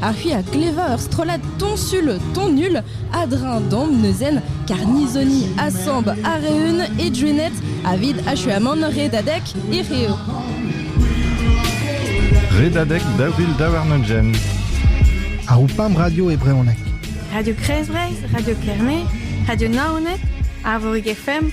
ha c'hwi a klevañ ur strollad toñsul tonul a-dreñv damb neuzen karnizoni asamb a-reun e drenet avit achuamant redadek e reo. Redadek daou vil daou warn-ugent. Ar Oupamp Radio e brezhoneg. Radio Kresbreizh, Radio Kerne, Radio Naoned, Arvorig FM,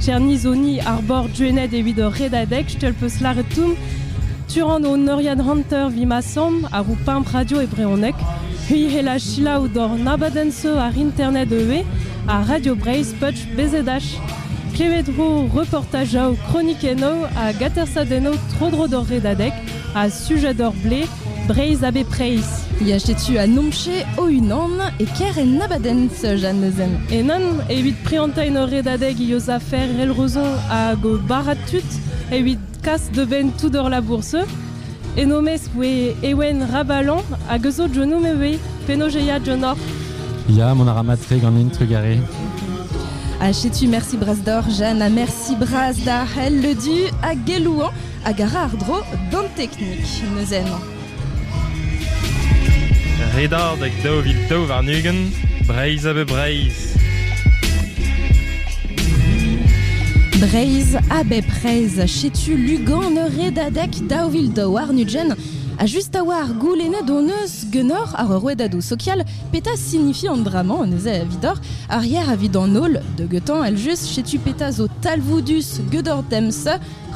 Tchernisoni, ar bord Gwened evit hor redadeg, je te le peus lâret tout. Tu ran ho neuriad hanter vi ma samm, ar Pimp Radio e brehoneg. C'hwi hela selaou d'hor nabadenn-se ar internet ivez, ar Radio Breizh Putsch Bezedach. Klevet ho reportajaoù, kronikennoù ha gatersadennoù tro-dro d'hor redadeg. ha Sujador-Blez, Breizh ha bepreiz. Ya setu a nomche o-unan e ker en abadens, Jeanne Lezen. Enan, evit priantañ ur redadeg eus afer Elrozo hag o barrad tud, evit kas da benn tout hor labour-se, en o mesk voe Ewen Rabalañ hag eus o John Mevey, penaos e ya John-Hor Ya, mont a ra mat-tre ganin, trugare. Ha setu, merci Bras d'Or, Jeanne, ha merci Bras d'ar El Ledu ha Gelouan hag a ra àr-dro d'an teknik neuze emañ. Redadeg daou vil daou warn-ugent, Breizh a be Breizh. Breizh a bep Breizh, setu Lugan redadek daou vil daou warn-ugent ha just a oa ar goulennet hon eus genoc'h ar rouedadoù sokial petra signifie an dra-mañ neuze evidoc'h arrier evit an holl de getañ el just setu petra zo talvoudus gedor dems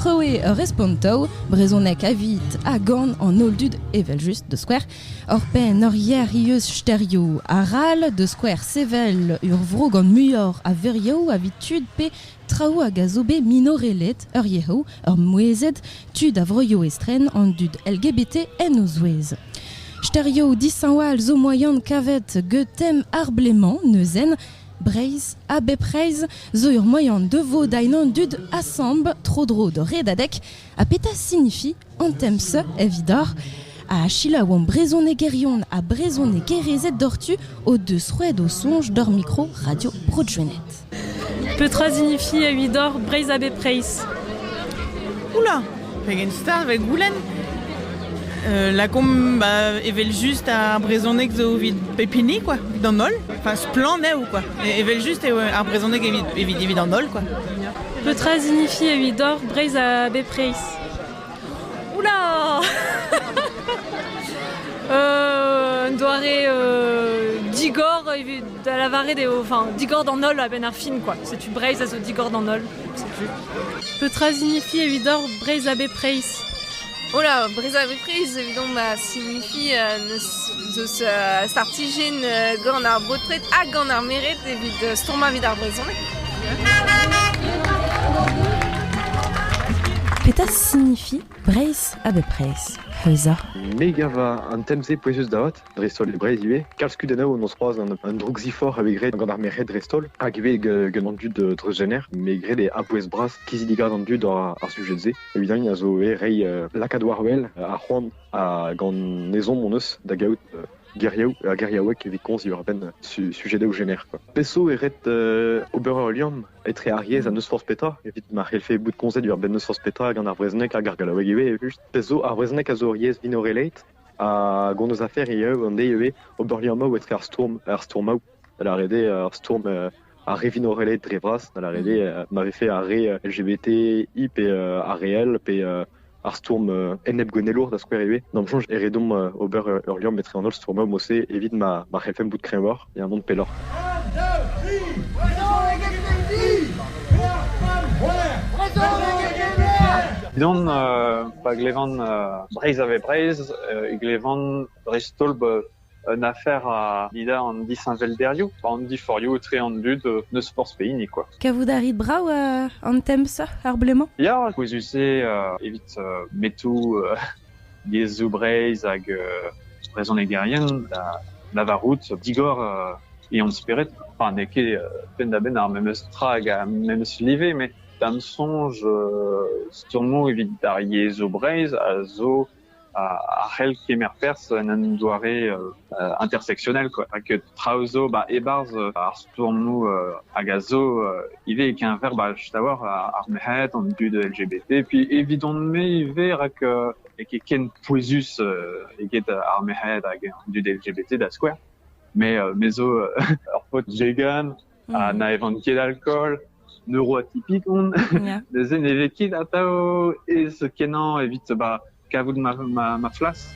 Krouiñ ur respontoù brezhonek evit ha gant an holl dud evel-just da skouer hor penn hor yer eus sterioù arall da skouer sevel ur vro gant muioc'h a verioù evit tud pe traoù hag a zo bet minoreled ur yezhoù ur mouezhed tud a vroioù estren an dud LGBT en o zouez. Sterioù dishañval zo moaien kavet get tem ar ble-mañ neuzen Breizh ha bepred zo ur moaien da vodañ an dud asambl tro-dro d'o redadeg. Ha petra signifie an tem-se evidoc'h? Ha selaouomp brezhonegerion ha brezhonegerezed doc'htu o deus roet o soñj d'hor mikro Radio Bro-Drenet. Petra signifie evidoc'h Breizh ha bepred? Oula, Pegen start vez goulenn lakaomp evel-just ar brezhoneg zo evit pep hini quoi, evit an holl. Enfin splann eo quoi. Evel-just eo ar brezhoneg evit, evit an holl quoi. Petra signifie evit hor Breizh a bepreiz Oula Un doare euh, digor evit Da lavaret eo enfin, digor d'an holl a-benn ar fin, quoi. Setu Breizh a zo digor d'an holl. Setu. Petra signifie evidoc'h Breizh abe Preizh Ola, Breizh abe Preizh, évidemment, bah, signifie euh, deus euh, startijenn euh, gant ar baotred hag gant ar meret evit euh, stourmañ evit ar brezhoneg. Petra signifie Breizh abe Preizh Heuza. Megava an tem-se pouezus da hot dreist-holl e Breizh ivez. Kalz kudennoù hon eus c'hoazh un droukziforc'h evit graet gant ar merc'hed dreist-holl, hag ivez gant an dud treuzjener, me graet e a-bouez bras kizidigaz an dud ar sujet-se. Evit eñ a zo ivez reiñ lakaat war-wel ar c'hoant gant ezhomm hon eus da gaout geriou ha geriaoueg evit komz diwar-benn sujedoù jener. Peso e ret ober ul liamm etre ar yezh ha n'eus forzh petra evit ma c'hellfe bout komzet diwar-benn n'eus forzh petra gant ar brezhoneg hag ar gallaoueg ivez evel-just. Peso ar brezhoneg a zo ur yezh minorelait Hag hon eus afer ivez an deiz ivez ober liammoù etre ar stourm ar stourmoù da lâret eo ar stourm ar re vinoreled dre vras da lâret eo ma vefe ar re LGBTI pe ar re L pe ar stourm enep-gouennelour da skouer ivez d'am soñj e red omp ober ur liamm etre an holl stourmoù mod-se evit ma ma c'hellfemp bout kreñvoc'h Yaouank pelloc'h. Evidon, pa glevan Breizh a vez Breizh, e glevan dreist-holl un afer a lida an disheñvelderioù, an diforioù etre an dud n'eus forzh pehini kwa. Kavout a rit brav an tem-se ar blez-mañ? Ya, pouezus eo evit metoù yezhoù Breizh hag brezhonegerien da lavarout digor e hont-spered. Ha n'eo ket penn-da-benn ar memes tra hag ar memes live, met da'm soñj stourmoù evit ar yezhoù Breizh a zo a c'hell kemer perzh en un doare intersectionnel, quoi. Rak traoù zo 'ba e-barzh ar stourmoù hag a zo ivez e-keñver bah just a-walc'h ar merc'hed, an dud LGBT. Puis evidon-me ivez rak n'eo ket ken pouezus eget ar merc'hed hag an dud LGBT da skouer. Me me zo ur paotr jegan ha na evan ket alkool, neuroatypik on. Neuze ne vez ket atav aes-kenañ evit bah kavout ma flas.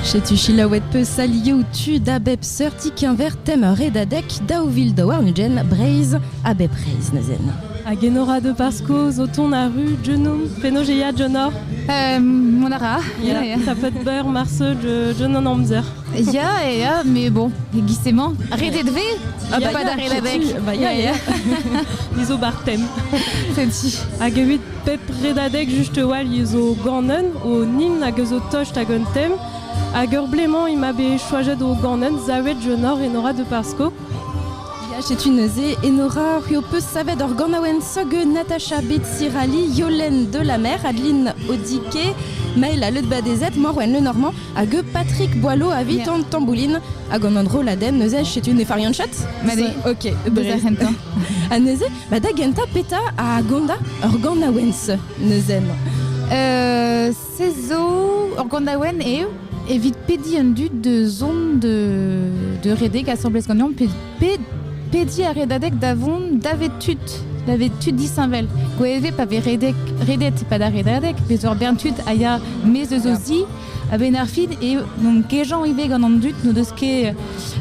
Setu selaouet peus alioù tu da bep seurti keñver tem redadek daou vil da warn-ugent Breizh a bep Breizh neuzen. Hag enora de Pasco zo ton a ru Junum penaos e ya Jonor? Um, mont a ra. Yeah, yeah. T'as pas de beurre, marse, Junun amzer. Ya, ya, mais bon, gisemment, arrêtez de rire Ah bah pas d'arrêt avec Bah ya, ya Izo bartem Tenti Hag evit pep redadeg just wall izo ganen o nin hag eus o tost hag un tem Hag ur bleman ima bet choajet o ganen zavet jenor enora de Pasco Ya, setu neuze Enora. C'hwi ho peus savet ur ganaouenn sog Natacha Betsirali, Yolenn de la Mer, Adeline Odike, Maëla Le Badezet, Morwen Le Normand hag Patrick Boileau avit an tamboulin hag an droladenn neuze setu ne farian chat Ma de. Ok neuze ha neuze ba da gentañ petra a gonda ur ganaouenn neuze euh, Se zo ur ganaouenn eo evit pediñ an dud da zont de, de redek asambles ganeomp, pediñ, pediñ ar redadeg da vont davet tud, davet tud disheñvel. Gwevez pa vez redek, redet pa da redadeg, bez ur bern tud a ya maez eus o zi, a-benn ar fin eo n'omp kejañ ivez gant an dud n'o deus ket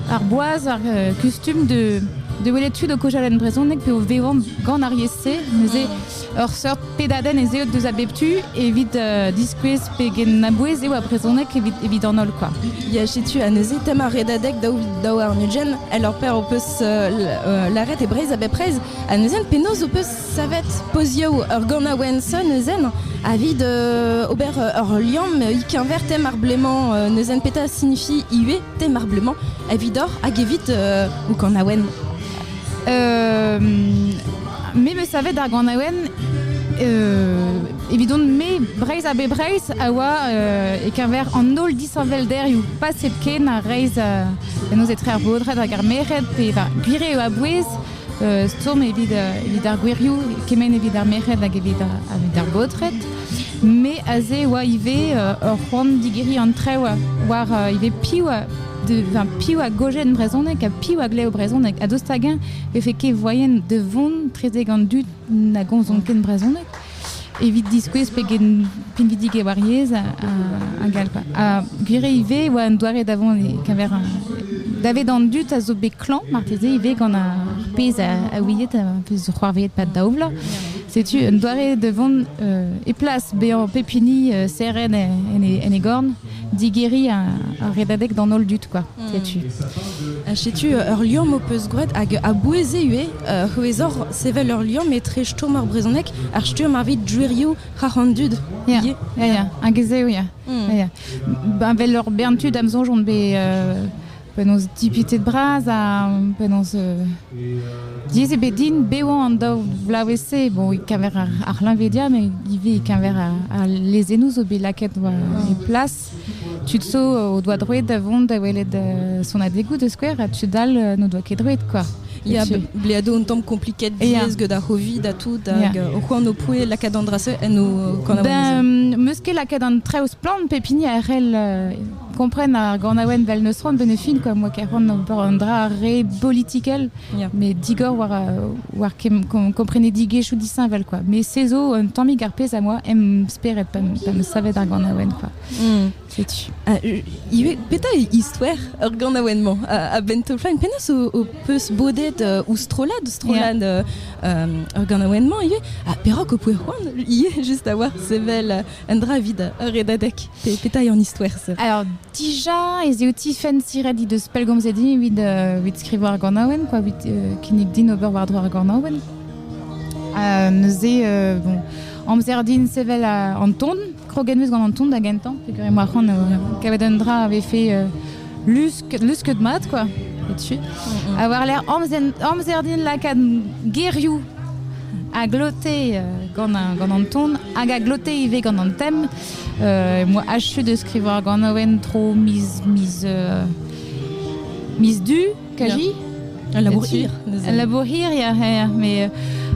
ar boaz, ar euh, kustum de, de welet tud o kojañ en brezhoneg pe o vevañ gant ar yezh-se. Neuze ur seurt pedadenn ez eo deus a bep tu evit euh, diskouez pegen abouez eo a brezhoneg evit, evit an holl quoi. Ya tu anezi tem ar redadek daou daou ar nudjen el ur per o peus euh, laret e Breiz a bepreiz anezien penaos o peus savet pozioù ur ganaouenn so neuzen avid euh, ober ur liam ikinver tem ar bleman neuzen peta signifie iwe tem ar bleman evidor hag evit ou kanaouenn Euh, me me savet ar ganaouenn euh, evidon me Breiz a be Breiz a oa e keñver an holl disheñvelderioù paset ken a reiz uh, en etre ar bodred hag ar mered pe gwir eo a-bouez uh, stourm evit, evit ar gwirioù kemenn evit ar mered hag evit, evit ar bodred me aze oa ivez ur c'hoant digeriñ an trev war ivez piv piv a gojen brezhoneg ha piv a glev brezhoneg ha dost hag-eñ vefe ket voyen da vont trezek an dud na gomzont ken brezhoneg evit diskouez pegen pinvidik eo ar yezh ha gall quoi. Ha gwir eo ivez e oa un doare da vont keñver davet an dud a zo bet klañv marteze ivez gant ar pezh a ouiet a peus c'hoarveet pad daou vloaz setu un doare da vont e plas bezañ pep hini seren en e gorn digeriñ ur redadeg d'an holl dud, quoi, hmm. setu. Ha setu ur liamm ho peus gwraet hag a-bouez eo eo c'hwezoc'h sevel ur liamm etre stumm ar brezhoneg ar stumm evit gwirioù c'har an dud. Ya, ya, ya, hag ez eo, ya. Hmm. Ba vel ur bern tud am soñj on bet Penaos dipitet bras ha penaos euh, diaes eo bet din bevañ an daou vloavezh-se. Bon, e-keñver ar, ar c'hleñvedia, met ivez e-keñver ar lezennoù zo bet lakaet e plas. Tud zo o doa droed da vont da welet euh, sonadegoù da skouer, ha tud all euh, n'o doa ket droed, quoi. Ya, ble un tamm kompliket diaes gant ar c'hovid ha tout, hag o c'hoant o poe lakaat an dra-se en o kanaouenn. Ben, meus ket lakaat an traoù splann, pep hini a c'hell Kompren ar ganaouenn 'vel n'eus c'hoant 'vel ne fin quoi. Moi, ker c'hoant ober un dra ar re bolitikel, yeah. mais digor war, war komprenedigezhioù disheñvel quoi. Mais se zo un tammig ar pezh a moi em spered pa, pa 'm savet ar ganaouenn quoi. Mm. Setu. Ah, ivez, petra e istoer ur ganaouenn-mañ a, a ben Tolflaen? Penaos ho, ho peus bodet uh, ouzh strollad, strollad yeah. uh, uh, ur ganaouenn-mañ ivez? Ah, perak ho poe c'hoant ivez juste d'avoir sevel Un dra evit ur redadeg. Petra eo an istwerzh Alors, dija ez eo ti fensiret he deus pellgomzet-hi evit, euh, evit skrivañ ar ganaouenn, quoi, evit euh, kinnig din ober war-dro ar ganaouenn. Euh, neuze, euh, bon, amzer din sevel euh, an ton. Kroget meus gant an ton da gentañ, peogwir emañ ar c'han kavet un dra a vefe euh, lus N'eus ket mat, quoi. Tu. Mm A war lec'h amzer din lakaat gerioù a glote euh, gant, gant an ton hag a glote ivez gant an thème. Euh, moi, achu de skrivañ gant un tro miz, miz, euh, miz du, kaji. Un labour hir. Un labour hir, ya, ya. Mais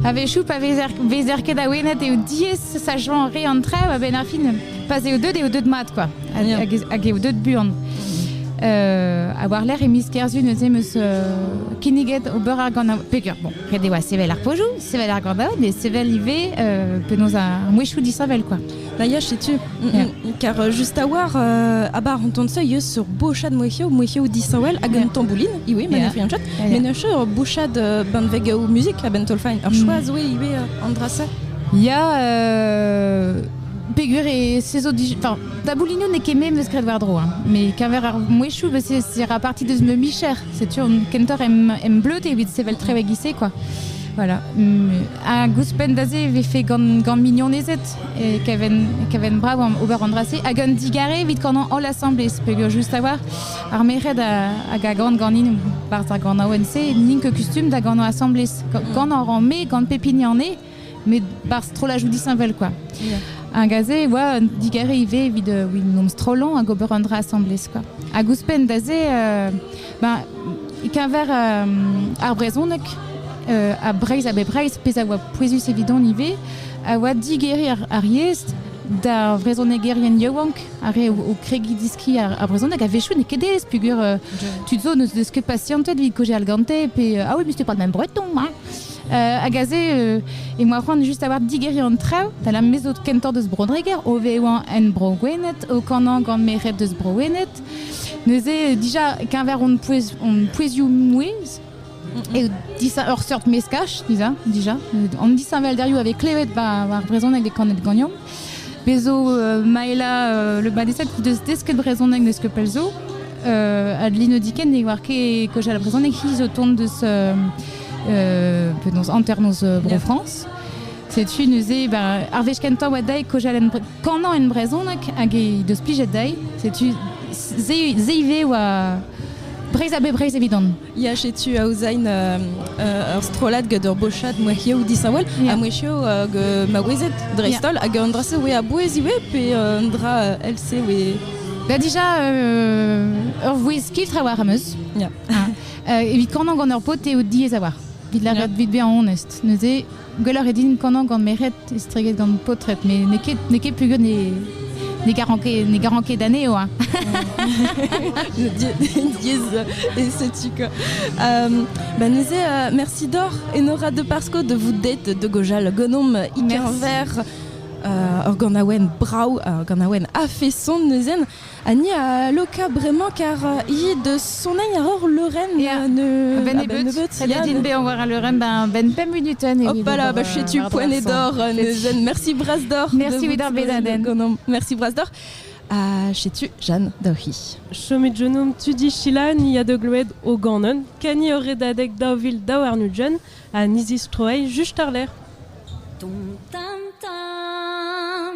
a vezhioù pa vezer ket awenet eo diaes sa joa re an trev, a-benn ar fin, pa eo deuet eo deuet mat, quoi. hag eo deut buan. ha war-lerc'h e miz kerzu neuze meus kinniget ober ar gant peger bon ret e oa sevel ar pojoù sevel ar gordaod mais sevel ivez penaos ar mouezhioù disheñvel quoi D'ailleurs, sais-tu, car euh, juste à voir, euh, à bar on se yeux sur bouchad mouechio, mouechio disawel, hag un tambouline, iwi, mais yeah. un mais ne sur bouchad euh, banveg ou musique, a ben tolfain, ur choix zoe iwe andrase. Ya, euh, Peger e saezo dij... Enfin, taboulinoù n'eo ket me meus graet war-dro, hein. mais keñver ar mouezhioù, bah, c'est c'est ra parti deus ma micher. Setu an kentoc'h em, em bleud evit sevel treug ise, quoi. Voilà. Hag ouzhpenn da-se e vefe gant, gant mignonezed e keven, keven brav ober an dra-se. Hag un digare evit kanan holl asambles, peger just avoir ar merc'hed a, hag a gan ganin barzh ar ganaouenn-se, n'in ket kustum da ganañ asambles. Gant an ran me, gant pep hini an e, met par strollajoù disheñvel quoi. Hag aze e oa digare ivez evit euh, un strollan hag ober un dra assemblez quoi. Hag ouzhpenn d'aze, euh, ben, keñver euh, ar brezhoneg euh, a Breizh a be Breizh, pezh a oa pouezus evidon ivez, a oa digeri ar, ar yezh d'ar vrezhonegerien yaouank ar re o, kregiñ diski ar, ar brezhoneg a vechoù n'eo ket ez pugur euh, tud zo n'eus deus ket pasiantet evit kojeal gante pe euh, ah oui mais c'était pas le même breton hein. hag aze e moa c'hoant just avoir digeri an traou tala mezo kentor deus Bro-Dreger o veoan en Bro-Gwened o kanañ gant meret deus Bro-Wened neuze dija keñver on pouezioù mouezh e disheñ ur seurt meskaj dija dija an disheñvelderioù a vez klevet ba ar brezhoneg e kanet ganeomp Bez zo Maela Le Badesat he deus desket brezhoneg n'eus ket pell zo. Adeline Odiken ne oar ket kojal brezhoneg hi zo tont deus penaos hanternoz Bro-France. Setu neuze bah, ar wech kentañ oa dezhi kojal en kanañ en brezhoneg hag he deus plijet dezhi. Setu se, se ivez oa Breizh a-be Breizh evidon. Ya, setu aozain euh, ur strollad gant ur bochad mouezhioù disheñvel ha mouezhioù uh, maouezed dreist-holl hag un dra-se oe a-bouez iwe pe un dra else oe... Ba dija ur vouezh kiltre war ameus. Ya. Ah, evit kornañ gant ur paotr eo diaes a war. Vit lâret, vit bezañ onest. Neuze, Gwelloc'h eo din kanañ gant meret estreget gant paotred, met n'eo ket, n'eo ket peogwir ne, ne garan ket, ne garan ket anezho. Hein. et setu quoi. Euh, bah, Nizé, euh, merci d'or et Nora de Pasco de vous date de Gojal Gonom Iker Vert. Uh, Organawen brau, uh, Organawen a fait son neuzen. Ha ni a loka bremañ kar hi deus soneiñ a hor leurenn ne... A-benn nebeut. Ret din bezañ war al leurenn ben benn pemp minutenn. Hopala, ba setu poent dor neuzen. Mersi bras d'or. Mersi evit ar bezadenn. Mersi bras d'or. Ha setu Jeanne Daoc'hi. Chomet genomp tu dichilañ ni a deu gloed o ganon, kani ur redadeg daou vil daou arnugent ha ni zistroay just àr-lerc'h. Dum tam tam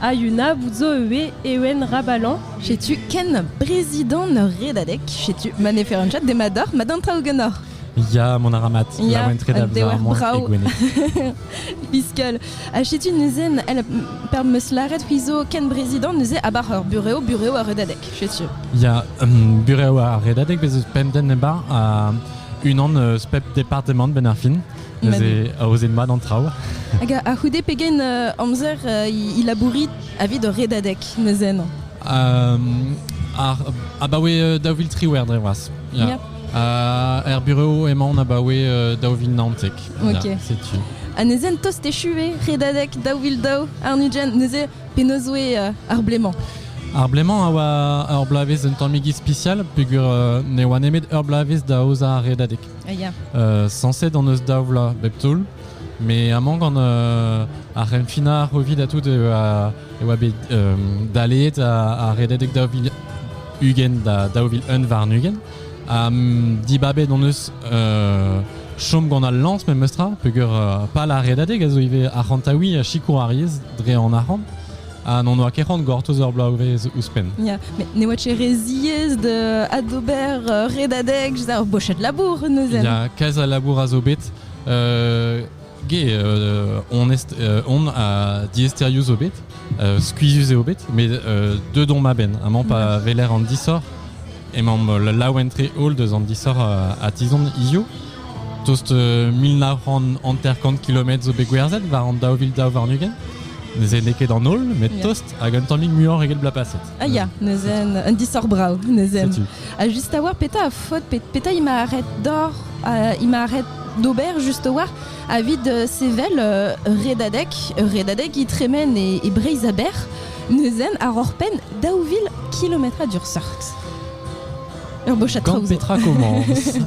Ha Yunabout zo ivez Ewen Rabalan. Setu ken brezidant ur redadeg. Setu ma ne feren chat demat doc'h, ma d'an traoù ganeoc'h. Ya, mon aramat, ya, laouen tre da vezañ brao. Biskol. Ha setu neuze, elle, per meus lâret c'hwi zo ken brezidant neuze abar ur bureo, bureo ar redadeg, setu. Ya, um, bureo ar redadeg, bez eus pemp den ebar, ha unan eus pep departemant benn ar fin. Neuze aoze mat an traoù. Hag a-c'houde pegen amzer il labourit avit ur redadeg neuze non ar abaoe daou vil triwec'h dre vras. Ya. er bureo emaon abaoe daou vil naontek. Ok. Setu. Anezen tost echu eo redadek daou vil daou arnudjen neuze penaos oe ar blemañ Ar blemañ a oa ur bloavezh un tammig ispisial peogwir ne oa nemet ur bloavezh da aozañ ar redadeg. Sañset hon eus daou vloaz bep taol, met amañ gant ar renfinañ Covid ha tout e oa bet daleet ha rededek daou vil ugent da daou vil un warn-ugent. Ha dibabet hon eus chom gant al lañs memestra, peger pal ar redadeg a zo ivez arc'hantaouiñ sikour ar yezh dre an arc'hant. Ah non, n'oa ket c'hoant gortoz ur bloavezh ouzhpenn. Yeah. Mais ne oa ket re ziaes de adober euh, redadeg, je ur bochet labour neuzen. Il y a kaze a labour a zo bet. Euh, ge, euh, on, est, euh, on a diesteriu zo bet, euh, skuizuz eo bet, mais euh, de don ma ben, amañ pa veler an disor, emañ laouen tre holl deus an disor a, a tizon hizio, Tost mil nav c'hant hanter-kant kilometr zo bet gwerzhet war an daou vil daou warn-ugent. Neuze n'eo ket an holl, met yeah. tost hag un tammig muioc'h eget bloaz paset. Ah ya, neuze un disoc'h brav, neuze. Ha juste a voir, petra a faute, petra il m'a arrêt d'or, euh, il m'a arrêt d'ober juste war avit euh, sevel euh, redadek, redadek il tremen et, et Breizaber, neuzen ar hor pen daou vil kilometra d'ur sorx. Ur bochad traoù zo. petra commence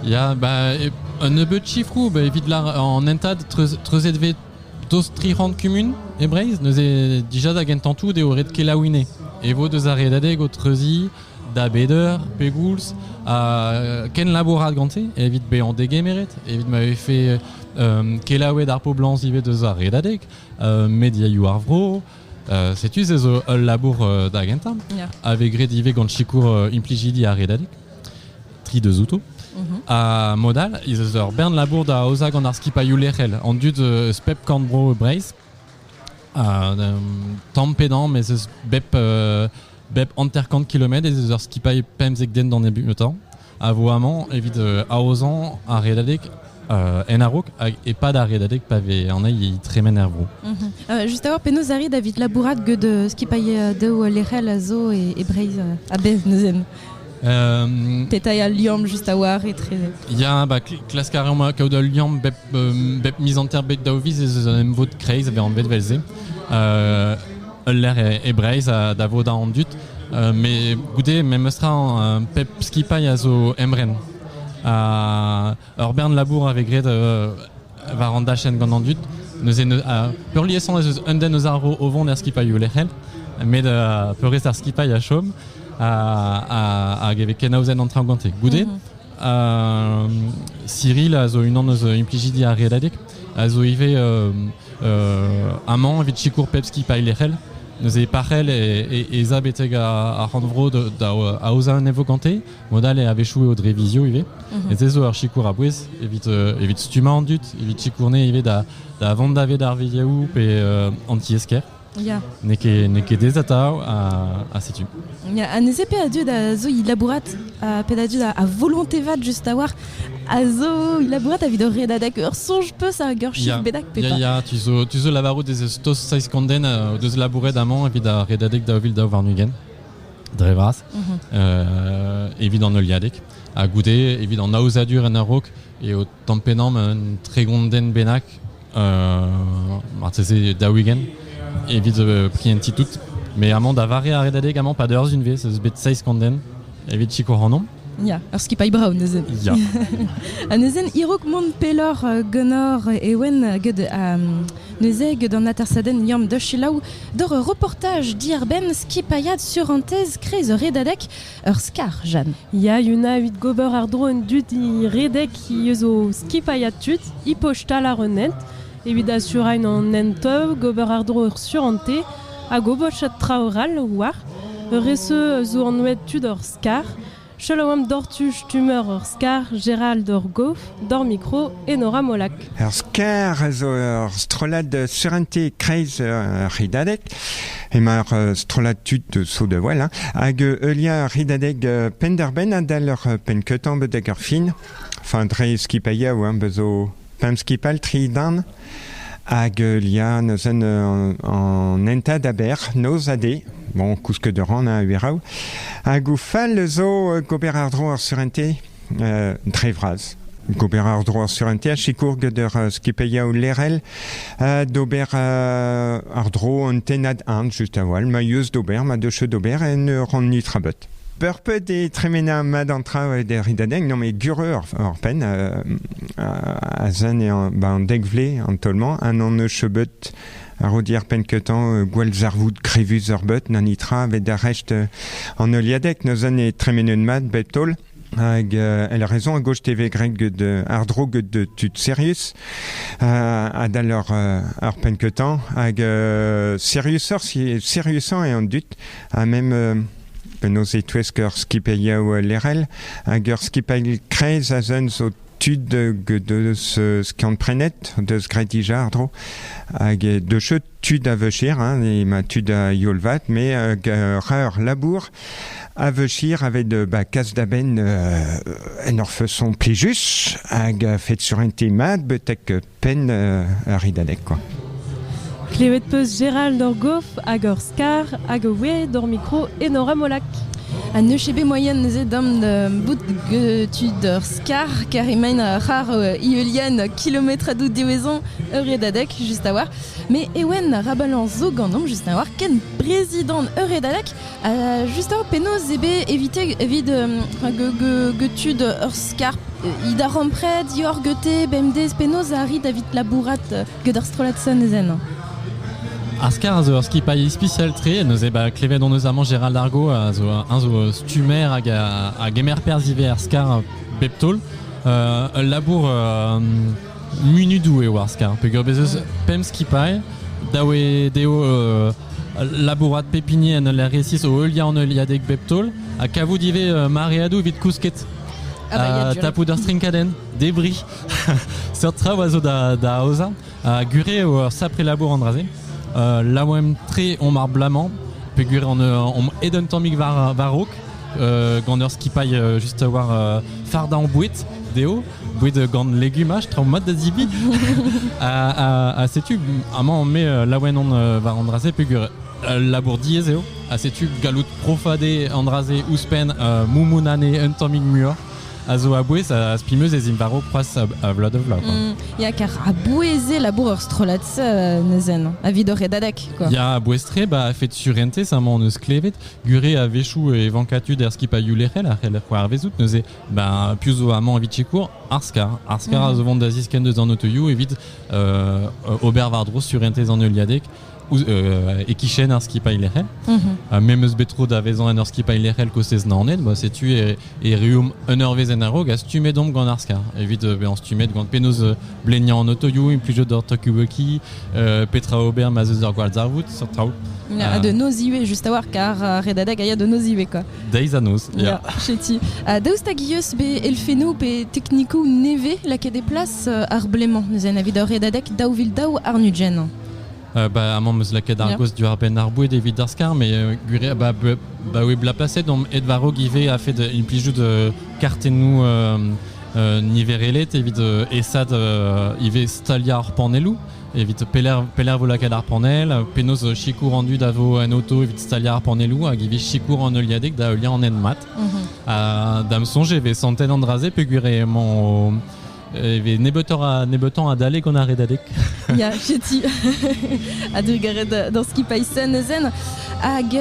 Ya, bah, un nebeut chiffrou, bah, evit lar en entad treuzet ve dos tri c'hant kumun e Breizh, neuze dija da gentañ tout eo ret kelaouine. E vo deus ar redadeg o treuziñ da beder, pegoulz, ha ken labourat gante, evit bezañ degemeret, evit ma vefe euh, kelaouet ar poblañs ivez deus ar redadeg, euh, mediaioù ar vro, Setu se zo ul labour da gentañ a vez graet ivez gant sikour implijidi ar redadeg. Tri deus outo. Mhm. Ha mod all ez eus ur bern labour da aozañ gant ar skipailhoù lec'hel an dud eus pep korn-bro e Breizh. tamm pe damm ez eus bep, bep hanter-kant kilometr ez eus ur skipailh pemzek den d'an nebeutañ. a vo amañ evit aozañ ar redadeg en a-raok hag e-pad ar redadeg pa vez anezhi e tremen er vro. Mhm. juste avoir penaos arri davit labourat get skipailh daou lec'hel a zo e, e Breizh a bez neuzen. Um, Petañ al liamm juste a-war etre... Ya, bah, klask a reomp kaout ul liamm bep, bep miz hanter bet daou viz ez eus un emvod kreiz a vez anvet vel-se. Uh, ul lec'h e, Breizh da vo an dud. mais goude memestra pep skipailh a zo emren. ur bern labour a vez graet war an dachenn gant an dud. Neuze peurliesan ez eus un den eus ar ro o vont er skipailhoù lec'hel, met peurrest ar skipailh a chom hag e vez kenaozen an traoñ gante. Goude, mhm. Cyril a zo unan eus implijidi ar Redadeg, a zo ivez amañ evit sikour pep skipailh lec'hel. Neuze parc'hell ez a betek ar c'horn-vro da aozañ un evo gante. Mod-all e avechou eo dre vizio ivez. Mhm. Et se zo ur sikour a-bouez evit evit stummañ an dud, evit sikourne ivez da vont daved ar viliaoù pe an tiez-kêr. Ya. N'eo ket, n'eo ket ez atav, ha, ha setu. Ya, ha neuze pe a dud a zo i labourat, uh, pe a dud a, a volonté vat juste a war, a zo i labourat evit o redad hag ur soñj peus ar geurchir bedak pe pas? Ya, ya, tu zo, tu zo lavarout ez eus tost saizkonden uh, o deus labouret amañ evit ar redadeg daou vil daou warn-ugent, dre vras, mhm. uh, evit an heuliadeg, ha goude evit an aozadur en a-raok eo tampennomp un tregonden bennak marteze da weekend evit prienti tout mais amañ da vare ar redadeg amañ pas d'eur unvez eus bet seiz konden evit sikour hanomp Ya, ur skipailh brav neuzen. Ya. ha neuzen, irok mont pelor euh, gunor ewen ged euh, neuze ged an atersaden liam da chilaou, dor ur reportaj diarbenn skipailhad sur an tez krez ur redadek ur skar, Jeanne. Ya, Yuna, evit gober àr-dro un dudi redek he eus o skipailhad tud, hi postal àr un hent, evit asurañ an hent gober àr-dro ur surante hag obochad traoù 'rall war. Ur reseau zo anvet tud hor skar. Selaouamp doc'htu stummer hor skar, Gerald Orgoff. D'hor mikro, Enora Molac. Ur sker zo ur strollad surentez kreiz ur c'hridadeg. Emañ ur strollad tud sou de voel, hein, hag heuliañ ur c'hridadeg penn-der-benn adal ur penn-keutañ betek ur fin. Enfin, dre skipailhañ hein, bezo pemp skipal tri darn. Hag heuliañ neuzen an enta aber, noz ha de. Bon, kousk de ran, hein, a-ueraou. Hag o fal zo gober àr-dro ar surentez dre vras. Gober ar-dro ar surentez a sikour gant ur uh, skipailhaoù lerel ha d'ober uh, ar-dro un tennad ant just a-walh ma yeus d'ober, ma deus d'ober en ur an nitrabot. Purput e tremena mat an traoù e der ridadenk, non mais gure ar pen uh, a zen e ba an dek vle an tolman an an eus chebeut a ro di ar pen ketan gwell zarvoud krevus ar bet na nitra ve da recht an oliadek, noz an e tremenet mat bet tol. Hag euh, elle a raison à gauche TV grec ged ardro ged tud serius adal ur ur penketan hag euh, seriusoc'h si seriusan e an dud ha même euh, penaos e touesk ur skipailh yaou lerel hag ur skipailh krez a zun zo tud deus skiant-prenet, deus graet dija àr-dro, hag deuseu tud a veuchir, hein, ma tud a youl vat, mais ur labour a veuchir aved ba kas da benn en ur feson plijus, hag fed sur un te mat, betek Penn ar Ridadeg, quoi. Klevet peus Gérald hor gof hag hor skar hag o oe d'hor mikro Enor Amolak. Ha ne ket bet moyen neuze dam da bout tud ur skar car emaint a c'har Iulian kilometr a dout diwezon ur redadek just a war. Me ewen rabalan zo ganomp just a war ken brezidant ur redadek Euh, just eo, penaos eo bet evit, evit euh, tud ur skarp Id a rompre dior gete bemdez penaos a rit avit labourat gant ar strollad sanezen Ar skar a zo ur skipailh ispisial tre, neuze ba klevet hon eus amañ Gérald Argo a zo un zo stummer hag a, a gemer perzh ivez ar skar bep taol. Euh, ul labour euh, munudoù eo ar skar peger bez eus pemp skipailh dav eo dezho euh, labourat pep hini en ul resis o heuliañ an heuliadeg bep taol ha kavout ivez euh, mareadoù evit kousket ah bah, tapout ur strinkadenn debri seurt traoù a zo da, da aozañ ha gure eo ur sapre labour an dra-se euh, laouen tre omp ar blamañ peger on, on ed un tammig war, war raok gant ur skipailh juste war fardañ boued dezho Boued gant legumaj, traoù mat da zibi. ha, setu, amañ on met laouen on war an dra-se pegur labour diaes eo. Ha setu gallout profadé an dra-se ouzhpenn moumounane un tammig muioc'h a zo a-bouez a spimeus ez in varo croaz a vloaz de vloaz. Mm, ya, kar a-bouez eo labour ur strollad se neuzen, a vidor e dadek, quoi. Ya, a-bouez tre, ba, fet surente, ça m'en eus klevet, gure a-wechoù e vankatud er skipailhoù lec'hel a c'heller c'hoarvezout neuze ben, piv zo amañ evit sikour Arskar. Arskar a zo vont da ziskenn deus an autoioù evit euh, ober war-dro surentez an heuliadeg euh, e kichen ar skipailh lec'hel. Mhm. Me meus bet tro da vezañ en ur skipailh lec'hel kostez Naoned. Ba, setu e, e reum un ur vezh en a-raok a stummet omp gant Arskar. Evit euh, bezañ stummet gant penaos euh, bleniañ an autoioù, implijout ur Tokiwuki, euh, petra ober ma zeus ur gwall zarvoud, seurt traoù. A de nos ivez, juste a war, car redadeg a ya de nos ivez, quoi. Deiz a noz, ya. Ya, cheti. Uh, daoust hag eus be elfennoù pe teknikoù nevez lakaet e plas uh, ar blemañ neuze na evit ur redadeg daou vil daou arnudjen? Euh, bah, amañ meus lakaet ar yeah. goz diwar-benn ar boued evit ar skar, mais euh, gure, bah, bah oui, la plaset om Edvaro Guivet a fait une plijou de kartennoù euh, euh, niverelet evit euh, esad euh, ivez stalia ar panelloù. evit pelec'h, pelec'h vo lakaet ar panell, penaos sikour an dud a vo en auto evit staliañ ar pannelloù hag evit sikour an heuliadeg da heuliañ an hent-mat. Mhm. Da'm soñj e vez santet an dra-se peogwir emañ e vez nebeutoc'h adalek gant ar redadeg. Ya, chetu. A-drugarez d'an skipailh Sun Zen. Hag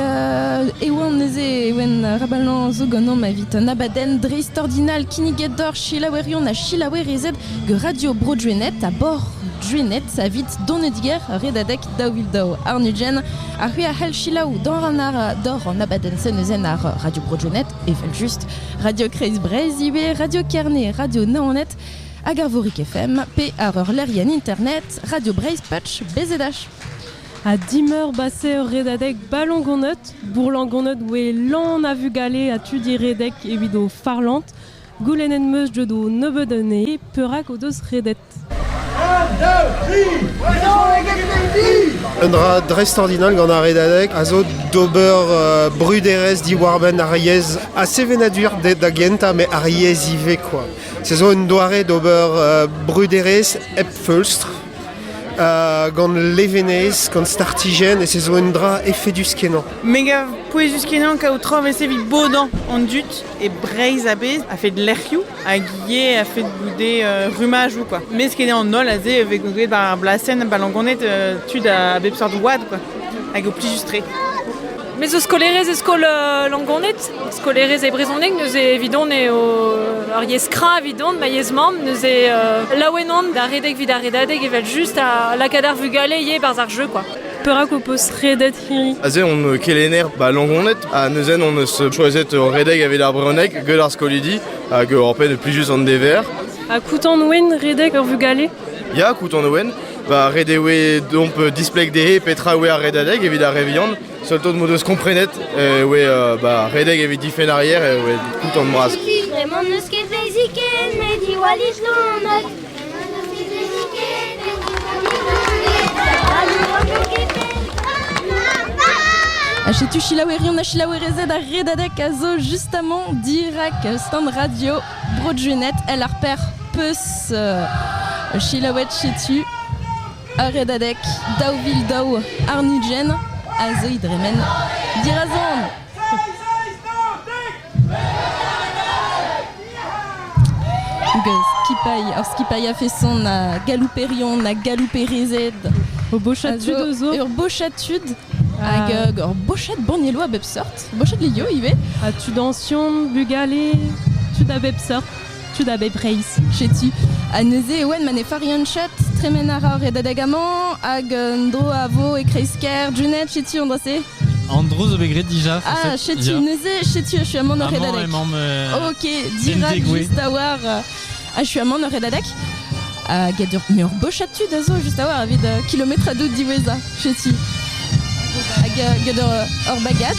e oan neuze Ewen Rabalañ zo ganeomp evit un abadenn dreist-ordinal kinniget doc'h selaouerion ha selaouerezed gant Radio Bro Drenet ha Bor Drenet savit donediger redadek daou vil daou. Arnudjen a c'hui a c'hell selaou dor an ar dor an abadenn-se neuzen ar Radio Bro Drenet evel just Radio Kreiz Breizh ivez, Radio Kerne, Radio Naonet hag ar Vorik FM pe ar ur lerien internet Radio Breizh Patch BZH. Ha dimeurbase ur redadeg ballongonot. Bourlangonnot oe lan a vugale ha tudi redek evit o farlant. Goulennet 'm eus deut o nebeut anezhe perak o deus redet. Un dra dreist-ordinal gant ar redadeg a zo d'ober euh, bruderezh diwar-benn ar yezh ha sevenadur da gentañ mais ar yezh ivez quoi. Se zo un doare d'ober euh, bruderezh hep feulstr gant levenez, gant startijenn, ez zo un dra efedus-kenañ. Mega pouezus-kenañ kaout traoñs evit bodañ an dud e Breizh a-bezh a fait lec'hioù hag ivez a fait goude euh, rumajoù quoi. Mes ket an holl aze vez gouzout war ar blasenn balangoned euh, tud a bep seurt oad quoi, hag o plijus tre. Me zo skolaerez e skol euh, Langoned, skolaerez e brezhoneg, neuze evidon eo ur yezh kra evidon, ma yezh mamm, neuze euh, laouen on da redek evit ar redadeg evel just a lakaat ar vugale ivez barzh ar jeu quoi. Perak ho peus redet hini Aze on euh, kelenner ba Langoned ha neuzen on eus choiset redek evit ar brezhoneg get ar skolidi hag hor pet plijus an dever. Ha koutan ouen redek ur vugale Ya, Kouton Owen, bah, ret eo domp displeg dezhe petra eo ar redadeg evit ar re vihan. Seul tout m'o deus komprenet e oe euh, bah, redeg evit difenn arrière e oe koutant bras. Vraiment n'eus ket fizikel, met diwallit gant Achetu chilaouerion a chilaouerezed ar redadek a zo justamment dirak stand radio Brudjunet el ar per peus selaouet setu ur redadeg daou vil daou arnudjen a zeuy dremen dirazon. skipailh ar skipailh a feson a galouperion a galouperezed o bochad tud ur bochad tud Hag ur bochad bannieloù a bep sort, bochad lio ivez. Ah, tudañsion, bugale, tud a bep sort, tud a bep reizh, setu. Ha neuze e oen ma ne farianchet, tremen a ra ar redadeg-amañ, hag un dro a vo e kreiz-kêr, Junet, setu an dra-se. An dro zo bet graet déjà. Ah, setu neuze, setu, je suis amant au redadeg. Amañ emaomp. ok, dirak juste da war. Ah, je suis amant en Redadec Ah, get ur, ur bochad tud a zo just a oar evit uh, kilometr a dout diwezhañ cheti. Hag uh, get ur, ur bagad.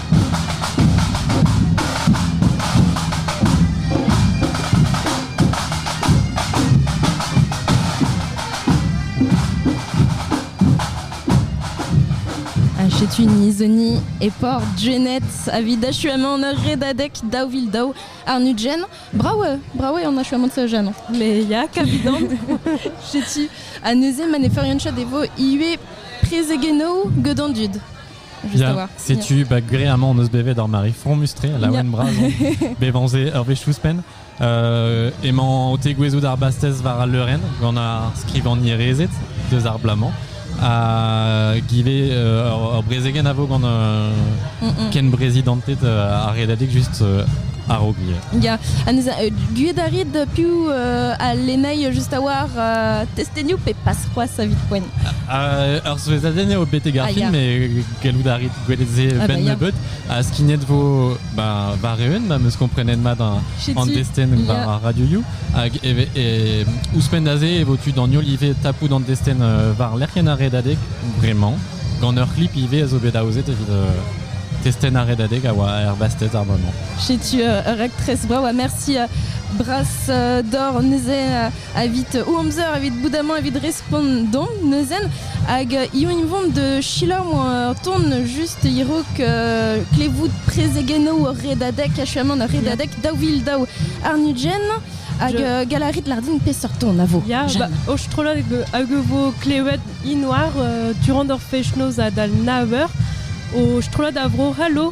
Setu Nizoni et Port Janet avit achuamant redadek daou vil daou ar nudjen. Bravo, bravo an achuamant sa jean. Le yak avidant. Setu a neuze man e ferion chod evo iue prezegeno gedan dud. Setu, bah, agréablement, on eus bevet ar mari fromus-tre, la ouen bras, bevanze ur wech ouzhpenn. Euh, emañ o tegouezhout ar bastez war al leurenn, gant ar skrivagner rezet deus ar blamant. A give euh, ur brezegen a vo gant euh, ken brezidantet euh, ar redadik just euh, a-raok gouiet. Ya, anez, uh, gouiet a rit piv uh, a lennail just a war uh, testenioù pe pas Trois savit poent. Ur souezhadenn eo betek ar ah, film, et gallout a rit gwelet se ah, ben bah, nebeut. Ha skignet vo bah, war-eeun, ma meus komprenet mat an destenn war ar Radio You. Hag e, e, ouzhpenn da se e vo tu d'an ivez tapout an destenn euh, war lec'hienn ar redadeg, bremañ. Gant ur klip ivez a zo bet aozet evit euh, testenn ar redadeg a oa erbastez ar moment. Chetu euh, ur raktres brao ha merci bras d'or neuze evit o amzer evit bout amañ evit respont don neuzen hag io invomp de silañ moa ton just irok euh, klevout prezegennoù ur redadek achuamant ur redadek daou vil daou arnudjen hag euh, galarit lardin peseurt ton a vo Ya, ba, o strollad hag vo klevet inoar euh, durant hor fechnoz a dal naver o strollad a vro c'hallo